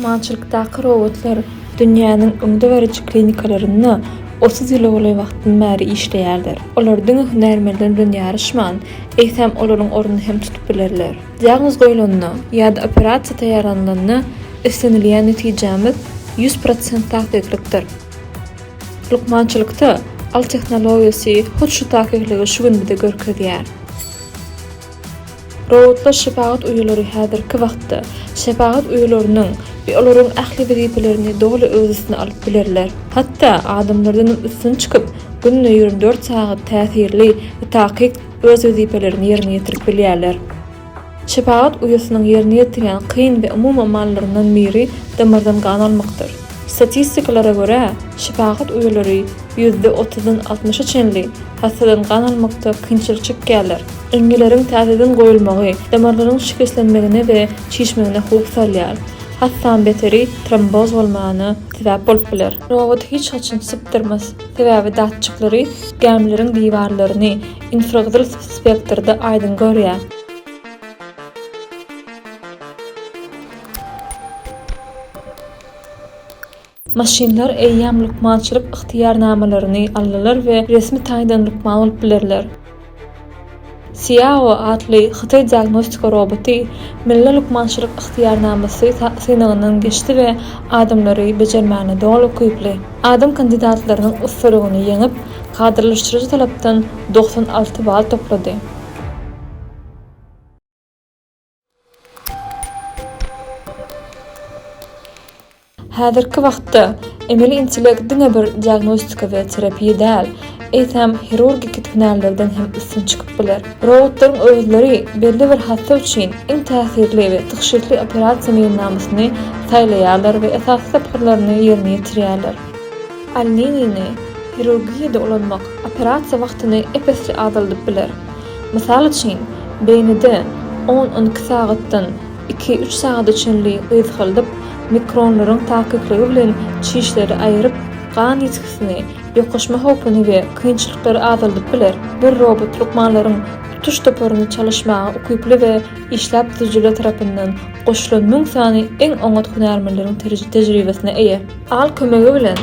Lukmançylykdaky robotlar dünýäniň öňdebaryjy klinikalarynda otuz ýyla golaý wagtdan bäri işleýärler. Olar diňe hünärmenler bilen ýaryşman, eýsem, olaryň ornuny hem tutup bilerler. Diagnoz goýlanda ýa-da operasiýa taýýarlanylanda islenilýän netijämiz ýüz prosent takyklykdyr. Lukmançylykda al tehnologiýasy hut şu takykligi şu gün bize görkezýär. Robotlar şepagat uýalary häzirki wagtda şepagat uýalarynyň we olaryň ähli wezipelerini doly öz üstüne alyp bilerler. Hatda adamlardanam üstün çykyp, günde ýigrimi dört sagat täsirli we takyk öz wezipelerini ýerine ýetirip bilýärler. Şepagat uýasynyň ýerine ýetirýän kyn we umumy amallaryndan biri damardan gan almakdyr. Statistikalara görä, şepagat uýalary ýüzde otuzdan altmyşa çenli hassadan gan almakda kynçylyk çekýärler. Iňňileriň täzeden goýulmagy damarlaryň şikeslenmegine we çişmegine howp salýar. Hassaň beteri tromboz bolmana sebäp bolup biler. Robot hiç haçan sypdyrmaz, sebäbi datçiklary gämileriň diwarlaryny, Infragyzyl spektrde aýdyň görýär. Maşynlar eýýäm lukmançylyk ygtyýarnamalaryny aldylar we resmi taýdan lukman bolup bilerler. Xiao atly hytaý diagnostika roboty milli lukmançylyk ygtyýarnamasy synagyndan geçdi we adamlary bejermäne doly ukyply. Adam kandidatlarynyň ussalygyny ýeňip, Kadalaşdyryjy talapdan doksan alty bal toplady. Häzirki wagtda emeli intellekt diňe bir diagnostika we terapiýa däl, eýsem hirurgiki hünärlerden hem üstün çykyp biler. Robotlaryň özleri belli bir hassa üçin iň täsirli we tygşytly operasiýa meýilnamasyny saýlaýarlar we esasy tapgyrlaryny ýerine ýetirýärler. Alninini hirurgiýada ulanmak operasiýa wagtyny ep-esli azaldyp biler. Mysal üçin, beýnide on-on iki sagatdan iki-üç sagada çenli gyzgaldyp, mikronlaryň takykligi bilen çişleri aýryp, gan ýitgisini, ýokaşma howpuny we kynçylyklary azaldyp biler. Bir robot lukmanlaryň tutuş toparyny çalyşmaga ukyply we işläp düzüjiler tarapyndan goşulan müň sany iň oňat hünärmenleriň tejribesine eýe. Al kömegi bilen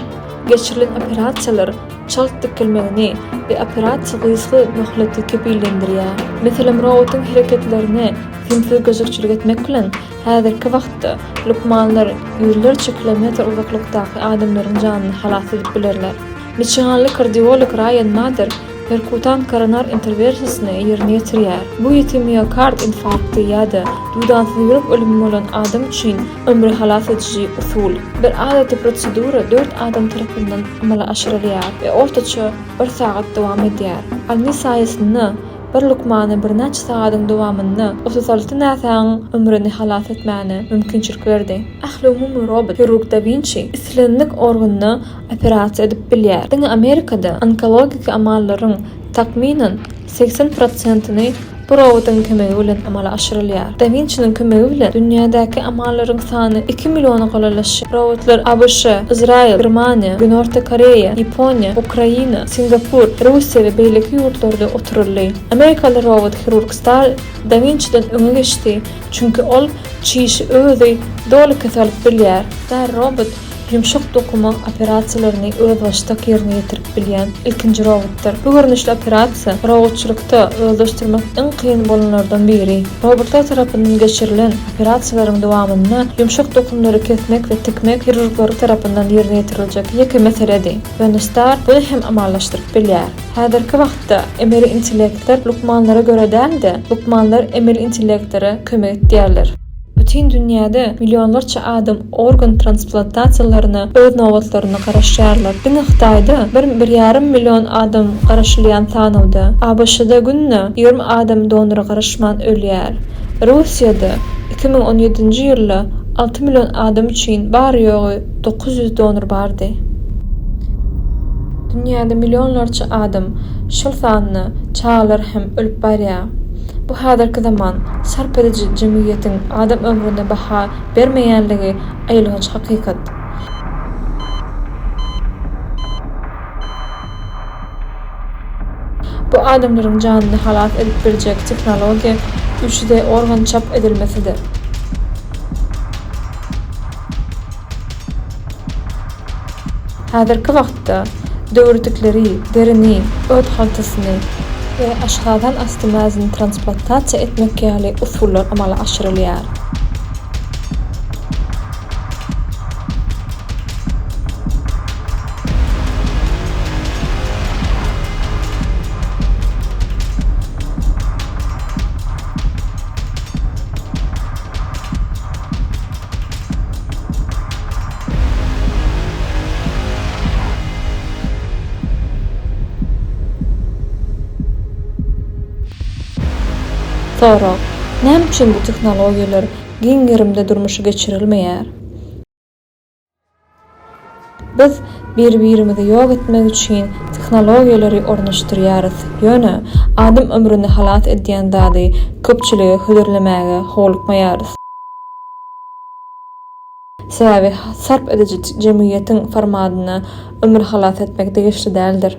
geçirilen operasiýalar çalt dikilmegini we operasiýa gysga möhleti kepillendirýär. Meselem, robotyň hereketlerine simsiz gözegçilik etmek bilen, häzirki wagtda lukmanlar ýüzlerçe kilometr uzaklykdaky adamlaryň janyny halas edip bilerler. Miçiganly kardiolog Raýan Mader perkutan koronar interwersiýasyny ýerine ýetirýär. Bu ýiti miokard infarkty ýa-da duýdansyz ýürek ölümi bolan adam üçin Ömri halas ediji usul. Bir adaty prosedura dört adam tarapyndan amala aşyrylýar we ortaça bir sagat dowam edýär. Alny saýasynda bir lukmana birnäçe sagadyň dowamynda otuz alty näsagyň ömrüni halas etmäne mümkinçilik berdi. Ähliumumy robot hirurg Da Winçi islendik organda operasiýa edip bilýär. Diňe Amerikada onkologiki amallaryň, takmynan, Segsen prosentini bu robotyň kömegi bilen amala aşyrylýar. Da Winçiniň kömegi bilen dünýädäki amallaryň sany iki milliona golalaşýar. Robotlar ABŞ, Yzraýyl, Germaniýa, Günorta Koreýa, Ýaponiýa, Ukraina, Singapur, Russiýa we beýleki ýurtlarda oturyldy. Amerikaly robot hirurg Star Da Winçiden öňe geçdi, çünki ol çişi özi doly kes alyp bilýär. Star robot Ýumşak dokuma operasiýalaryny özbaşdak ýerine ýetirip bilýän ilkinji robotdyr. Bu görnüşli operasiýa robotçylykda özleşdirmek iň kyn bolanlardan biri. Robotlar tarapyndan geçirilen operasiýalaryň dowamynda ýumşak dokumlary kesmek we tikmek hirurglar tarapyndan ýerine ýetiriljek ýeke meseledi. Benestar muny hem amallaşdyryp bilýär. Häzirki wagtda emeli intellektler lukmanlara görä däl-de, lukmanlar emeli intellektlere kömek etýärler. Bütin dünýäde millionlarça adam organ transplantasiýalaryna öz nobatlarynda garaşýarlar. Diňe Hytaýda bir, bir ýarym million adam garaşylýan sanawda, ABŞ-da günde ýigrimi adam donora garaşman ölýär. Russiýada iki müň on ýedinji ýylda alty million adam üçin bary-ýogy dokuz ýüz donor bardy. Dünýäde millionlarça adam, şol sanda çagalar hem ölüp barýar. Bu häzirki zaman sarp ediji jemgyýetiň adam ömrüne baha bermeýänligi aýylganç hakykat. Bu adamlaryň janyny halas edip biljek tehnologiýa üç D organ çap edilmesidir. Häzirki wagtda döwürdikleri derini, öt haltasyny we aşgazan asty mäzini transplantasiýa etmek ýaly usullar amala aşyrylýar. Sorag, Näme üçin bu tehnologiýalar giň gerimde durmuşa geçirilmeýär? Biz bir-birimizi ýok etmek üçin tehnologiýalary ornaşdyrýarys, ýöne adam ömrüni halas edýän zady köpçülige hödürlemäge howlukmaýarys. Sebäbi sarp ediji jemgyýetiň formadyna ömür halas etmek degişli däldir.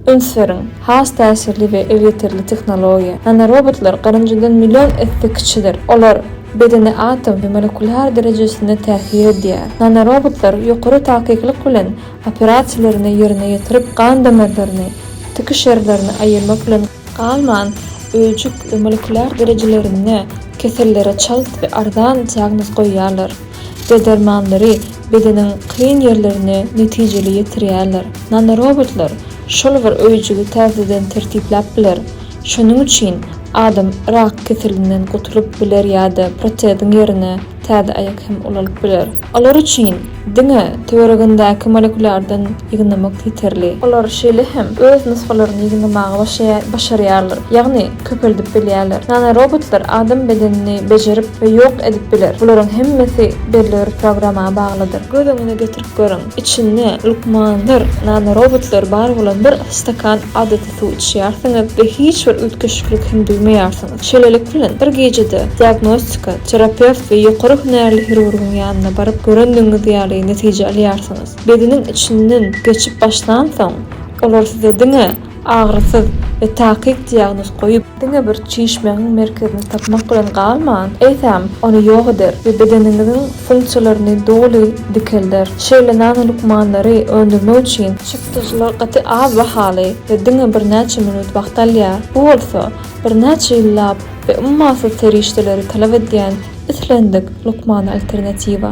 Üns beriň, has täsirli we elýeterli tehnologiýa. Nanorobotlar garynjadan million esse kiçidir. Olar bedene atom we molekular derejesinde täsir edýär. Nanorobotlar ýokary takyklyk bilen operasiýalaryny ýerine ýetirip, gan damarlaryny, tikiş ýerlerini aýyrmak bilen, galman, öýjük we molekular derejelerinde kesellere çalt we arzan diagnoz goýýarlar. D-dermanlary bedeniň kyn ýerlerine netijeli ýetirýärler. Nanorobotlar şol bir öýjügi täzeden tertipläp biler. Şonuň üçin adam rak keselinden gutulyp biler ýa-da proteziň ýerine täze aýak hem ulalyp biler. Olar üçin diňe töweregindäki molekulardan ýygnamak ýeterli. Olar şeýle hem öz nusgalaryny ýygnamagy başarýarlar. Ýagny. köpeldip bilýärler. Nanorobotlar adam bedenini bejerip we ýok edip biler. Bularyň hemmesi belli bir programma baglydyr. Göz öňüne getirip görüň, içinde lukmandyr nanorobotlar bar bolan bir stakan adaty suw içýärsiňiz we hiç bir üýtgeşiklik hem duýmaýarsyňyz. Şeýlelik bilen, bir gijede diagnostika, terapewt we ýokary hünärli hirurgyň ýanyna baryp görendigiňiz ýaly netije alýarsyňyz. Bedeniň içinden geçip başlansoň, olar size diňe. Agyrysyz we takyk diagnoz goýup, diňe bir çişmegiň merkezini tapmak bilen galman, eýsem, ony ýok eder we bedeniňiziň funksiýalaryny doly dikelder. Şeýle nano lukmanlary öndürmek üçin çykdajylar gaty az bahaly we diňe birnäçe minut wagt alýar, bu bolsa birnäçe ýyllap we ummasyz serişdeleri talap edýän islendik lukmana alternatiwa.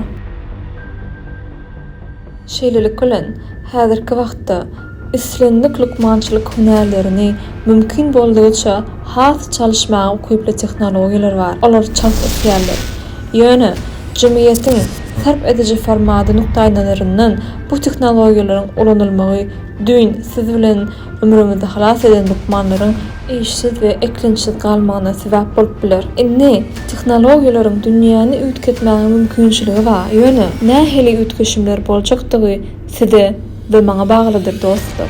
Şeýlelik bilen, häzirki wagtda islendik lukmançylyk hünärlerini mümkin boldugyça has çalyşmaga ukyply tehnologiýalar bar, olar çalt ösýärler. Ýöne, jemgyýetiň sarp ediji formady nukdaýnazaryndan bu tehnologiýalaryň ulanylmagy düýn siz bilen Ömrüňizi halas eden lukmanlaryň işsiz we eklençsiz galmagyna sebäp bolup biler. Indi, tehnologiýalaryň dünýäni üýtgetmäge mümkinçiligi bar, ýöne nähili üýtgeşimler boljakdygy size we maňa baglydyr, dostlar.